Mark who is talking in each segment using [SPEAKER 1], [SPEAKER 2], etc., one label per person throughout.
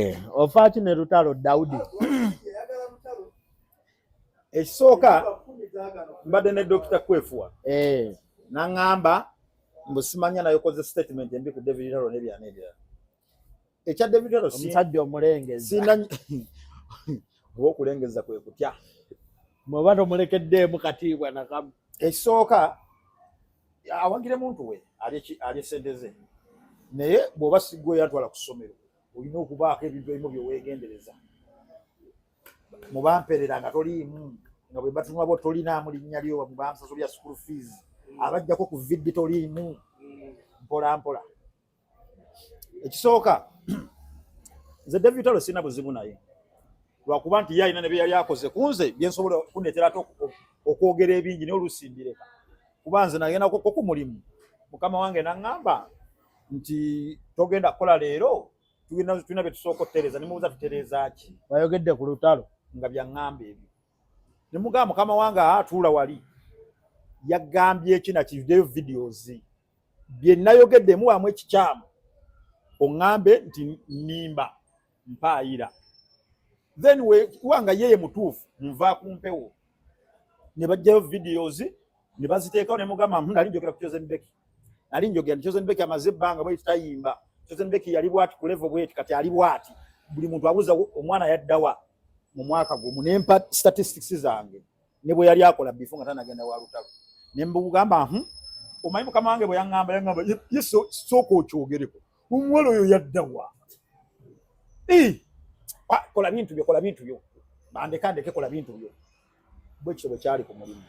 [SPEAKER 1] Eh, ofaaki ne lutalo dawudi
[SPEAKER 2] ekisooka mbadde ne dokita kwefuwa eh. naŋŋamba mbu simanya naye okoze statement embi ku david lutalo nebyana ebirala ekya david lutalo omusajja omulengeza oba okulengeza kwe kutya mweba
[SPEAKER 1] tomulekeddeemu katiibwa nakamu ekisooka
[SPEAKER 2] awagire muntu we alye sente ze naye bw'oba sigwe yantwala ku ssomero olina okubaako ebintu ebimu byewegendereza mubamperera nga toliimu nga bwe batunula bo tolinaamu linnya lyo mubamusaso lya school fees abajjako ku viddi toliimu mpola mpola ekisooka nze david talo sirina buzibu naye lwakuba nti ye alina ne bye yali akoze ku nze byensobola okuneetera ate okwogera ebingi naye olusimbireka kuba nze nagendako ku mulimu mukama wange naŋŋamba nti togenda kukola leero tulina bye tusooka okutereeza ne mubuuza tutereeza ki bayogedde ku lutalo
[SPEAKER 1] nga byaŋŋamba
[SPEAKER 2] ebyo ne mugamba mukama wange atuula wali yagambye eki nakivideyo videos bye nayogeddemu wamu ekikyamu oŋŋambe nti nimba mpaayira then wekuba nga yeye mutuufu nva ku mpewo ne bajjayo videos ne baziteekawo ne mugamba hmm, nali njogera ku chosen beki nali njogera chosen beki amaze ebbanga bwe tutayimba chosen beki yali bwati ku level bweti kati ali bwati buli muntu abuuza omwana yaddawa mu mwaka gumu ne mpa statistics zange ne bwe yali akola before nga tanagenda wa lutalo ne mbugamba hmm, omanyi mukama wange bwe yangamba yangamba yesu sooka okyogereko Omuwala oyo yadda wa? Ah, kola bintu byo, kola bintu byo. Bandeka ndeke kola bintu byo. Bwe kityo bwe kyali ku mulimu.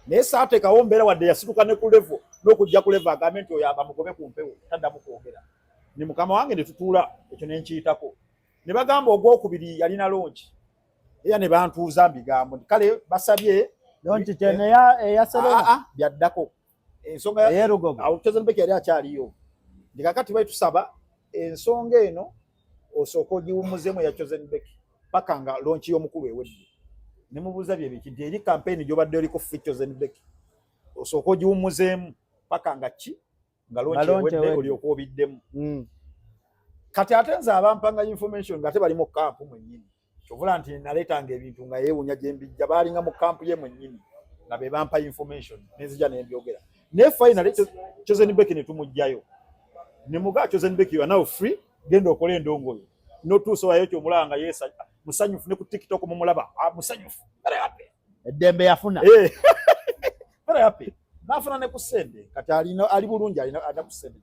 [SPEAKER 2] Naye saateekawo mbeera wadde yasituka ne ku levo n'okujja ku levo agambe nti oyo abamugobe ku mpewo taddamu kwogera. Ni mukama wange ne tutuula ekyo ne nkiyitako. Ne bagamba ogwokubiri yalina longi. Era ne bantuuza mbigambo nti kale basabye longi gye
[SPEAKER 1] eya Serena ah, ah, byaddako.
[SPEAKER 2] ensonga ya Lugogo awo Chosen
[SPEAKER 1] Becky yali akyaliyo
[SPEAKER 2] ndi kakati bali tusaba ensonga eno osooka ogiwumuzemu ya Chosen Becky paka nga launch y'omukulu ewedde ne mubuuza bye biki nti eri campaign gyobadde oliko fi Chosen Becky osooka ogiwumuzemu paka nga ki nga launch ewedde oli okuobiddemu mm. kati ate nze abampanga information nga te bali mu camp mwennyini kyovula nti naleetanga ebintu nga yeewunya gye mbijja baalinga mu kampu ye mwennyini nga be bampa information nenzija ne mbyogera naye finally chosen back ne tumugjayo ne mugaa chosen back you are now free genda okola endongo yo notuusa wayo kyomulaba nga yeesa musanyufu ne ku tiktok mumulaba ah, musanyufu eddembe yafuna
[SPEAKER 1] eh.
[SPEAKER 2] very happy nafuna ne ku sente kati alina ali bulungi alina ada ku sente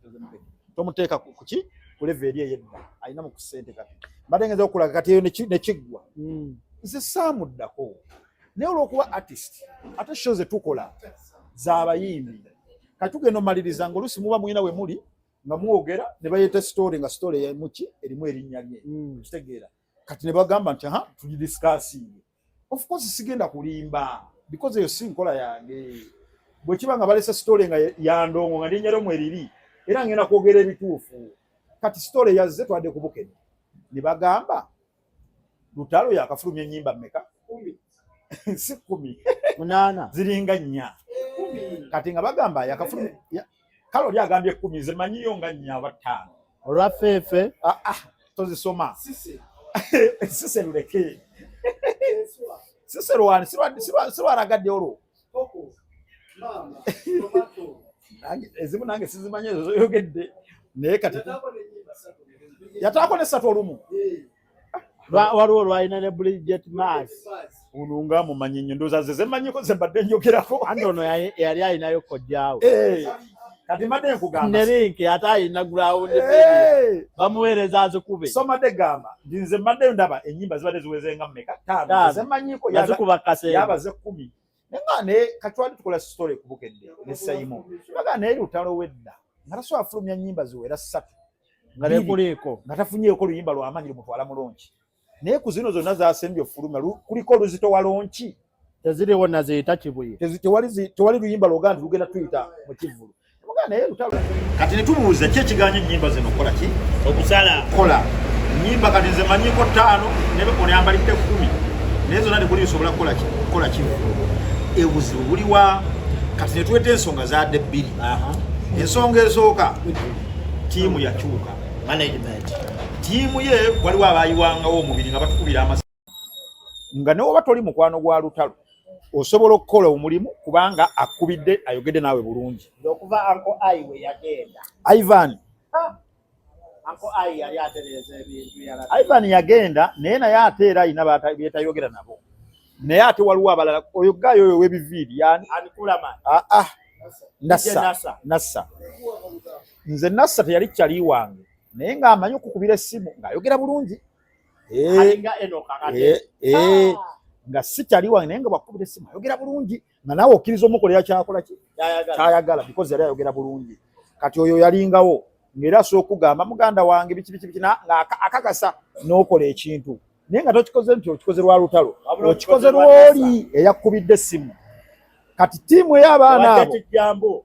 [SPEAKER 2] tomuteeka ku ki ku level eri eyedda alina mu ku sente kati mbadde ngenza okulaga kati eyo ne kiggwa hmm. nze saamuddako naye olwokuba artist ate sho ze tukola z'abayimbi kati tugenda omaliriza nga oluusi muba mulina we muli nga mwogera ne bayeta story nga story ya muki erimu erinnya lye hmm. kitegeera kati ne bagamba nti ha tugidisikasiinge of course sigenda kulimba because eyo si nkola yange bwe kiba nga balese sitole nga ya ndongo nga ndinyero mweriri era ngenda kwogera ebituufu kati sitole yazze twadde ku bukene ne bagamba lutalo yakafulumya ennyimba mmeka si kumi munaana
[SPEAKER 1] ziringa nnya
[SPEAKER 2] kati nga bagamba yakafulumya kale oli agambye ekkumi nze manyiyo nga nnya aba ttaano olwafeefe
[SPEAKER 1] ah, ah, tozisoma
[SPEAKER 2] sise luleke sise lwani sirwaragadde olwo ezimu nange sizimanyi ezo zoyogedde naye kati yataako ne satu olumu
[SPEAKER 1] waliwo lwalina ne bridget mas ono nga
[SPEAKER 2] mumanyi nnyo ndooza ze zemanyiko ze mbadde njogerako anti ono yali
[SPEAKER 1] alinayo kojjaawo eh, kati
[SPEAKER 2] mbadde nkugamba ne linki ate
[SPEAKER 1] alina gulawundi eh. bamuweereza azikube somade gamba
[SPEAKER 2] ndi nze mbaddeyo ndaba ennyimba zibadde ziwezenga mumeka taano zemanyiko yazikuba kaseera yabaze
[SPEAKER 1] kkumi
[SPEAKER 2] nenga ne katwali tukola story kubukedde ne sayimo baga ne lutalo wedda ngaraso afulumya nyimba ziwera satu ngarekuleko
[SPEAKER 1] ngatafunyeko luyimba
[SPEAKER 2] lwa amanyi mutwala mulonki naye ku zino zonna zasembye ofuluma kuliko oluzito wa lonki teziriwo
[SPEAKER 1] naziita kibuye tewali
[SPEAKER 2] luyimba lwoga nti lugenda tuyita mu kivulu kati netubuuza ki ekiganya enyimba zino okukola ki okusala kola nyimba kati nze manyiko ttaano nebekolyambalidde kumi naye zona tekuli nsobola kukola kimu ebuzibu buliwa kati netweta ensonga zadde bbiri ensonga esooka tiimu yakyuka tiimu ye waliwo abayiwangawo omubiri nga batukubira amasa nga newoba toli mukwano gwa lutalo osobola okukola omulimu kubanga akubidde ayogedde naawe bulungi okuva anko
[SPEAKER 1] ai we yagenda ivan ivan yagenda
[SPEAKER 2] naye naye ate era alina byetayogera nabo naye ate waliwo abalala oyo gaayo oyo webiviiri yani ah,
[SPEAKER 1] ah. nassa
[SPEAKER 2] nassa nze nassa teyali kyali wange naye ng'amanyi okukubira essimu ng'ayogera bulungi eh, eh,
[SPEAKER 1] eh, ah.
[SPEAKER 2] nga si kyali wange naye nga bwakubira esimu ayogera bulungi nga naawe okkiriza omukolera kyakola kyayagala bikozi yali ayogera bulungi kati oyo yalingawo ngaera asobola okugamba muganda wange biki biki biki ngaakakasa n'okola ekintu naye nga tokikoze nti okikoze lwa lutalo okikoze lwoli eyakkubidde esimu kati tiimu ey'abaana abo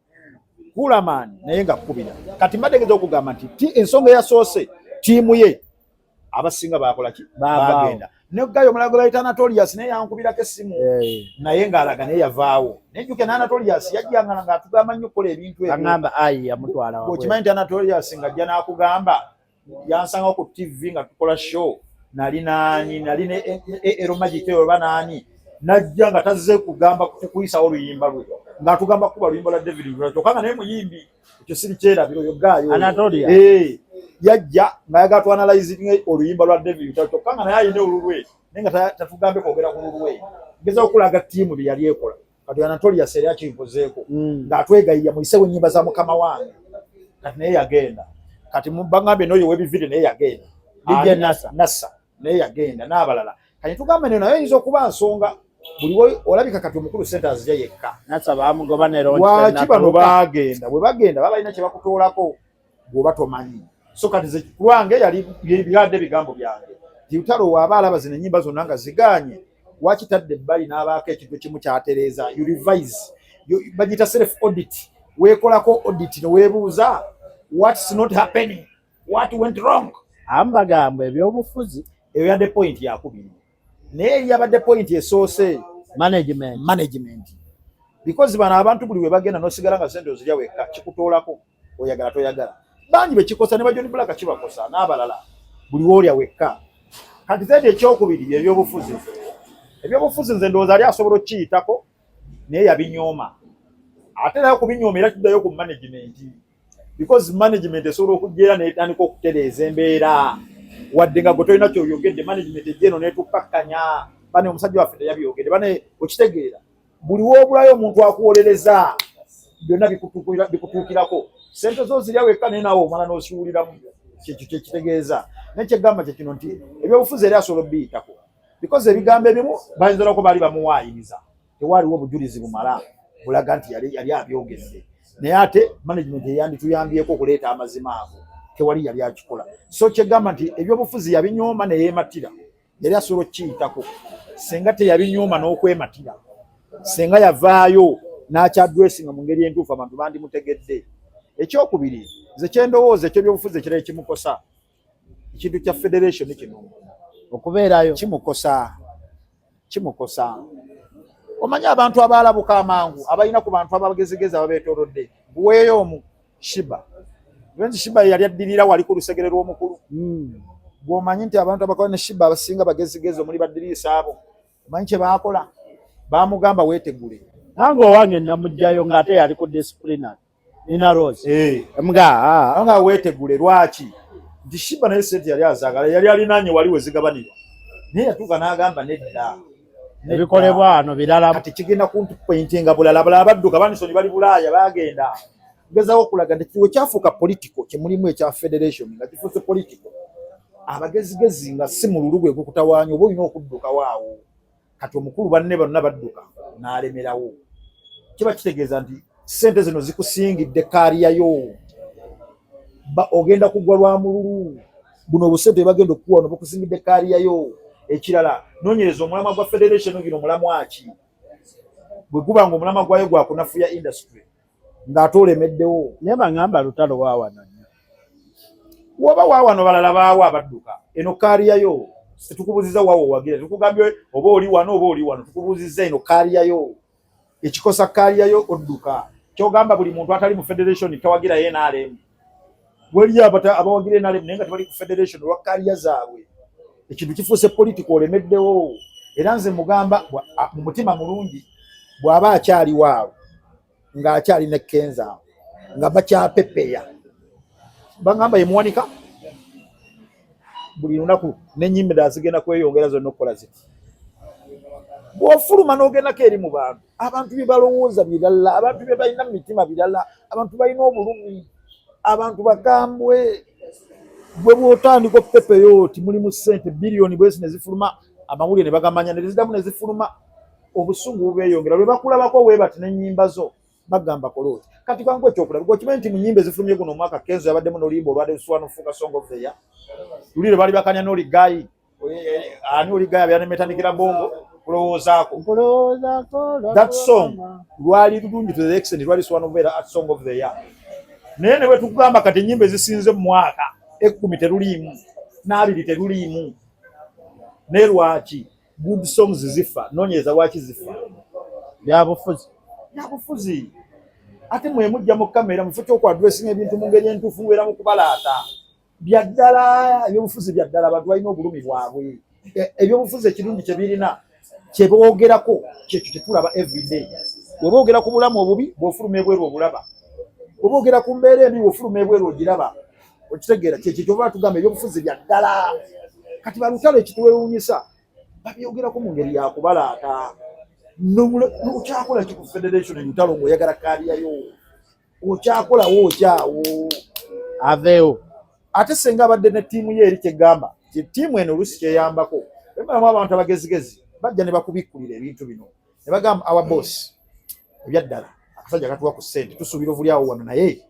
[SPEAKER 2] Hulaman naye nga kubira kati mbadegeza okugamba nti ensonga eyasoose tiimu ye abasinga bakolaki bagenda negayo omulala gwe bayita anatolias naye yankubirako essimu eh. naye ngaalaga naye yavaawo naye juke ne anatolias yajjangala nga atugamba nnyo okukola ebintu ebyokimanyi nti anatolias ngajja n'akugamba yansanga ku TV nga tukola show nali nani nali ne e, e, e, Ero Magic eyo oba nani najja nga tazze kugamba kukuyisa oluyimba lwe nga tugamba kuba luyimba la David Lula kyokka nga naye muyimbi ekyo siri kyerabiro yo gaayo Anatolia eh yajja nga yaga tu analyze oluyimba lwa David Lula kyokka nga naye ayina olulwe naye nga tatugambe kwogera ku lulwe ngeza okulaga tiimu bye yali ekola kati anatoli yaseera kinkozeeko mm. ng'atwegayirira muyisewo ennyimba za mukama wange kati naye yagenda kati bagambye n'oyo w'ebivide naye yagenda dj nasa nasa naye yagenda n'abalala kati tugamba neno naye oyinza okuba nsonga buli olabika kati omukulu sente azija yekka nasa bamugoba nerolwaki bano bagenda bwe bagenda baba balina kye bakutoolako gwoba tomanyi so kati ze kulwange yali byadde bigambo byange tiutalo waaba alaba zino enyimba zonna nga zigaanye wakitadde ebbali n'abaako ekintu kimu kyatereeza you revise bagiyita self audit weekolako audit ne weebuuza what's not happening what went wrong ambagamba
[SPEAKER 1] ebyobufuzi eyo yadde point
[SPEAKER 2] yakubiri naye eyabadde point esoose management
[SPEAKER 1] management
[SPEAKER 2] because bano abantu buli webagenda nosigala nga sente ozirya wekka kikutoolako oyagala toyagala bangi bekikosa ne bajoni bulaka kibakosa n'abalala buli woolya wekka kati zedi ekyokubiri byebyobufuzi ebyobufuzi nze ndowooza ali asobola okukiyitako naye yabinyooma ate naye okubinyooma era kiddayo ku management because management esobola okujja era netandika okutereeza embeera wadde nga gwe tolina kyoyogedde management ejja eno netukkakkanya bane omusajja waffe teyabyogedde bane okitegeera buli wobulayo omuntu akuwolereza byonna bikutuukirako sente zo zirya wekka naye nawe omala nosiwuliramu kyekyo kyekitegeeza naye kyegamba kyekino nti ebyobufuzi eri asobola obiyitako bikoze ebigambo ebimu bayinza nako baali bamuwaayiriza tewaaliwo obujulizi bumala bulaga nti yali abyogedde naye ate management eyandituyambyeko okuleeta amazima ago tewali yali akikola so kyegamba nti ebyobufuzi yabinyooma neyematira yali asobola okukiyitako senga teyabinyooma n'okwematira senga yavaayo n'akyadwesinga mu ngeri entuufu abantu bandimutegedde ekyokubiri nze kyendowooza ekyo byobufuzi ekirala ekimukosa ekintu kya federation kino okubeerayo
[SPEAKER 1] kimukosa
[SPEAKER 2] kimukosa omanyi abantu abaalabuka amangu abalina ku bantu abagezigezi ababeetorodde buweeyo omu shiba nti shiba yali addirira wali ku lusegere lw'omukulu hmm. gwomanyi nti abantu abakola ne shiba abasinga bagezigezi omuli baddiriisa abo omanyi kye baakola baamugamba weetegule nange owange
[SPEAKER 1] namugjayo ngaate yali ku disciplinary nina rose eh. mga ah. nga
[SPEAKER 2] weetegule lwaki nti shiba naye sente yali azagala yali alinanye wali wezigabanirwa naye yatuuka n'agamba nedda ebikolebwa
[SPEAKER 1] wano birala kati kigenda kuntupointinga
[SPEAKER 2] bulala bulala badduka banisoni bali bulaaya bagenda gezawo okulaga nti kiwe kyafuuka politiko kyemulimu ekya federation nga kifuuse politiko abagezigezi nga si mululu gwe gukutawaanya oba olina okuddukawo awo kati omukulu banne bonna badduka n'alemerawo kiba kitegeeza nti Sente zino zikusingidde kaaliyayo, ogenda kugwa lwa mululu. Buno obusente bagenda okukuwa no bukusingidde kaaliyayo. Ekirala nonyereza omulamwa gwa federation gino mulamwa ki? Bwe guba nga omulamwa gwayo gwa kunafuya industry ng'ate olemeddewo. Naye
[SPEAKER 1] bangamba
[SPEAKER 2] lutalo
[SPEAKER 1] waawano
[SPEAKER 2] nnyo. Woba waawano balala baawo abadduka. Eno kaaliyayo situkubuziza wawo wagira tukugambye oba oli wano oba oli wano tukubuuzizza eno kaaliyayo. ekikosa kaliyayo odduka kyogamba buli muntu atali mu federation tawagira nrm waliyo abawagira nrm naye nga tebali ku federation olwa kaliya zaabwe ekintu kifuuse politiko olemeddewo era nze mugamba mu mutima mulungi bw'aba akyali waawo ng'akyali ne kenza nga bakyapepeya bangamba yemuwanika buli lunaku n'ennyimba endala zigenda kweyongera zonna okukola ziti bw'ofuluma n'ogendako eri mu bantu abantu bye balowooza birala abantu bye balina mu mitima birala abantu balina obulumi abantu bagambwe gwe bw'otandika okupepeyo oti mulimu ssente biliyoni bwezi ne zifuluma amawulire ne bagamanya ne zidamu ne zifuluma obusungu bubeeyongera lwe bakulabako weebati n'ennyimba zo bagamba kola oti kati kangu ekyokulaba gwokimanyi nti mu nyimba ezifulumye guno omwaka kenzo yabaddemu n'oluyimba olwali lusuwa nofuuka songo feya luli lwe baali bakanya n'oli gayi ani oli gayi abeera nemetandikira bongo kulowoozaako that song lwali lulungi to the extent lwali suwa nokubeera at song of the year naye ne bwe tukugamba kati ennyimba ezisinze mu mwaka ekkumi teruliimu n'abiri teruliimu ne lwaki Good songs zifa nonyeza waki zifa byabufuzi byabufuzi ate mwe mujja mu kamera mufuta oku addressing ebintu mu ngeri entuufu mubeera mu kubalaata bya ddala ebyobufuzi bya ddala abantu balina obulumi bwabwe e, ebyobufuzi ekirungi kye birina kye boogerako kyekyo tetulaba everyday bwe boogera ku bulamu obubi bwofuluma ebweru obulaba bwe boogera ku mbeera embi bwofuluma ebweru ogiraba okitegeera kyekyo kyoba tugamba ebyobufuzi bya ddala kati balutalo ekitwewunyisa babyogerako mu ngeri yakubalaata okyakola ki ku federation entalo ngaoyagala kaaliyayo okyakolawo okyawo aveewo ate senga abadde ne ttiimu ye eri kyegamba ttiimu eno olusi kyeyambako emalamu abantu abagezigezi bajja ne bakubikkulira ebintu bino ne bagamba our boss ebyaddala akasajja katuwa ku ssente tusuubira ovulyawo wano naye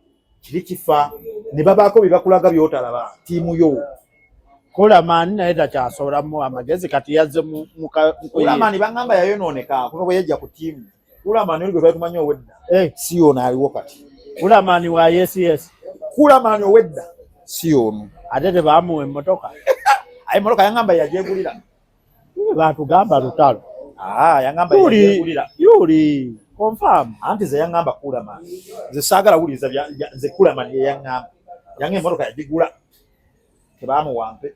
[SPEAKER 2] kiri kifa ne babaako bye bakulaga byotalaba tiimu yo Kulamani naye takyasoboramu amagezi kati yazze Kulamani bangamba yayonooneka kuva bwe yajja ku tiimu Kulamani oli gwe twali tumanyi owedda eh. si ono aliwo kati Kulamani wa yes yes Kulamani owedda si ono ate tebaamuwa emmotoka aye emmotoka yangamba yagyegulira batugamba lutalo ah, yuli confirm anti ze yaŋŋamba kulaman nze saagala wuliriza nze kulaman ye yaŋŋamba yange emmotoka yagigula tebamuwampe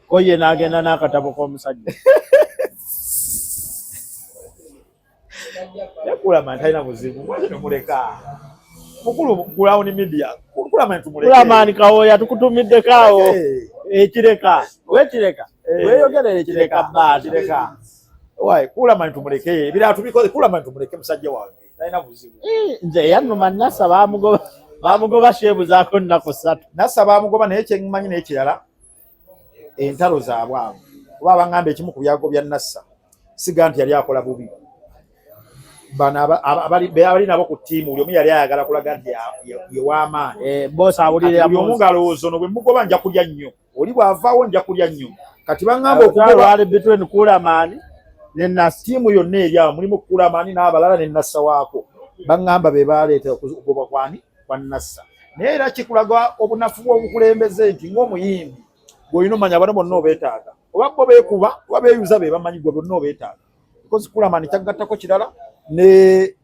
[SPEAKER 2] ko ye n'agenda n'akatabo k'omusajja Yakulama talina buzibu mwaki tumuleka mukulu kulawuni midia kulamani tumuleke kulamani kawoya tukutumidde kawo ekireka wekireka eh. weyogerera ekireka baati kireka wayi kulamani tumuleke ebirala tubikoze kulamani tumuleke musajja wange talina buzibu eh, nze yanuma nasa bamugoba bamugoba sheebuzaako nnaku ssatu nasa bamugoba naye kyemanyi n'ekirala entalo zaabwe abo kuba abangamba ekimu ku byago bya nassa siga nti yali akola bubi bano abali nabo ku ttiimu buli omu yali ayagala kulaga nti yewamaani eh, buli omu ngalowooza no bwe mugoba nja kulya nnyo oli bwavaawo nja kulya nnyo kati bangamba okugobakulamani ttiimu yonna eryawo mulimu kulamani n'abalala ne nassa waako bangamba be baleeta okugoba kwani kwa Nassa. Naye era kikulaga obunafu bw'obukulembeze nti ng'omuyimbi gw'olina omanya bano bonna obeetaaga oba bo beekuba oba beeyuza be bamanyi gwe bonna obeetaaga because Kulamani kyaggattako kirala ne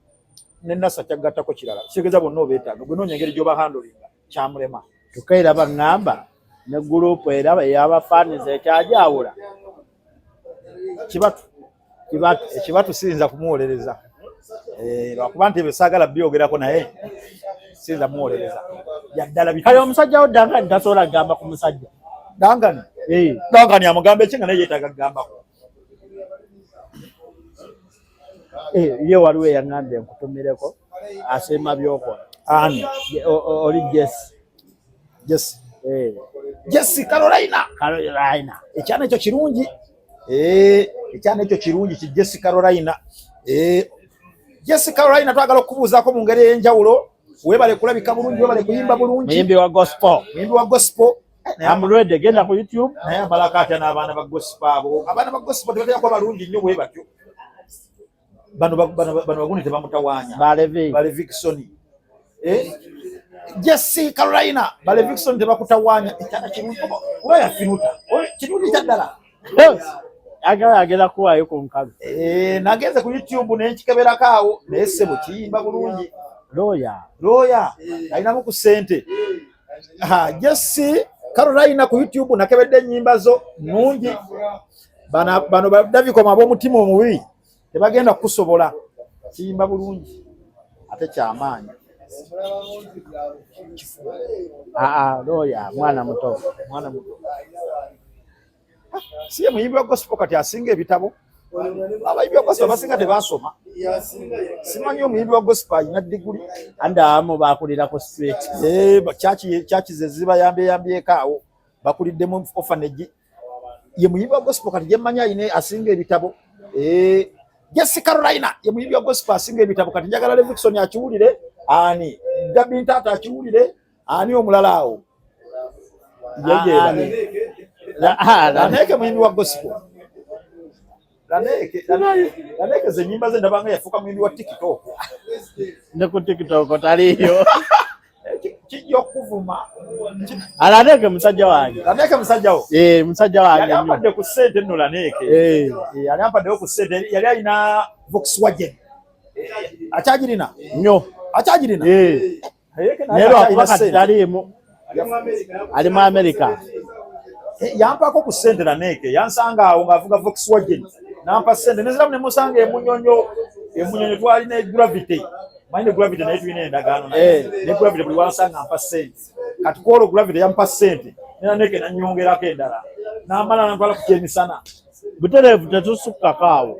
[SPEAKER 2] ne Nassa kyaggattako kirala kitegeeza bonna obeetaaga gwe noonya engeri gy'oba handolinga kyamulema kyokka era baŋŋamba ne guruupu era eyabafaaniza ekyagyawula kibatu ekibatu siyinza kumuwolereza eh, lwakuba nti ebyo saagala byogerako naye siyinza muwolereza yaddala kale omusajja wo dangani tasobola kugamba ku musajja dangani eh. dangani amugamba ekinga naye yetaaga kugambako eh, ye waliwo eyaŋambye nkutumireko asiima byokola ani oli jesi Jesse. Eh. Jesse Carolina. Carolina. Ekyana ekyo kirungi. Eh, ekyana ekyo kirungi ki Jesse Carolina. Eh, Jesse Carolina twagala okubuuzaako mu ngeri ey'enjawulo. Weebale kulabika bulungi, weebale kuyimba bulungi. Muyimbi wa gospel. Muyimbi wa gospel. Eh, I'm ready. Genda ku YouTube. Naye amalaka atya n'abaana ba gospel abo. Abaana ba gospel tebatera kuba balungi nnyo bwe batyo. bano bano bano baguni tebamutawanya balevi balevi kisoni eh Jesse Carolina balevi kisoni tebakutawanya ekyana kirungi kuba yafinuta kirungi kyaddala
[SPEAKER 1] agala agenda kuwaayo ku nkalu eh, nagenze ku
[SPEAKER 2] youtube nenkikeberako awo naye sebo kiyimba bulungi looya looya alinamu ku sente eh. Ha, Jesse Carolina ku YouTube nakebedde ennyimba zo nungi. Bana bano badabikoma ab'omutima omubi tebagenda kukusobola. Kiyimba bulungi ate kyamaanyi. Aa,
[SPEAKER 1] ah, ah, loya mwana muto, mwana muto.
[SPEAKER 2] si ye muyimbi wa gospel kati asinga ebitabo abayimbi wa gospel abasinga tebasoma simanyi omuyimbi wa gospel alina diguli andaamu
[SPEAKER 1] bakulirako straight eh,
[SPEAKER 2] kyaki zezibayambyeyambyeko awo bakuliddemu ofanegi ye muyimbi wa gospel kati gyemmanyi alina asinga ebitabo eh, jesi carolina ye muyimbi wa gospel asinga ebitabo kati njagala levixon akiwulire ani gabintaata akiwulire Ani omulala awo? Laneke muyimbi wa gospel. Laneke, Laneke ze nyimba ze ndabanga yafuka muyimbi wa TikTok. Ne
[SPEAKER 1] ku TikTok taliyo.
[SPEAKER 2] kijja okuvuma alaneeke
[SPEAKER 1] musajja wange laneeke musajja wo eh
[SPEAKER 2] musajja wange yali
[SPEAKER 1] ampadde ku ssente nno
[SPEAKER 2] laneeke eh, eh yali ampaddewo ku ssente yali alina Volkswagen akyagirina nnyo
[SPEAKER 1] akyagirina eh naye lwakuba kati taliimu ali mu amerika eh,
[SPEAKER 2] yampako ku sente naneeke yansanga awo ngaavuga voxwagen nampa sente neziramu nemusanga emunyonyo emunyonyo twali ne gravity manyi ne gravity naye tulina endagaano eh. ne gravity buli wansanga mpa sente kati kwolwo gravity yampa sente nenaneeke nanyongerako endala namala nantwala ku kyemisana butereevu
[SPEAKER 1] tetusukkako awo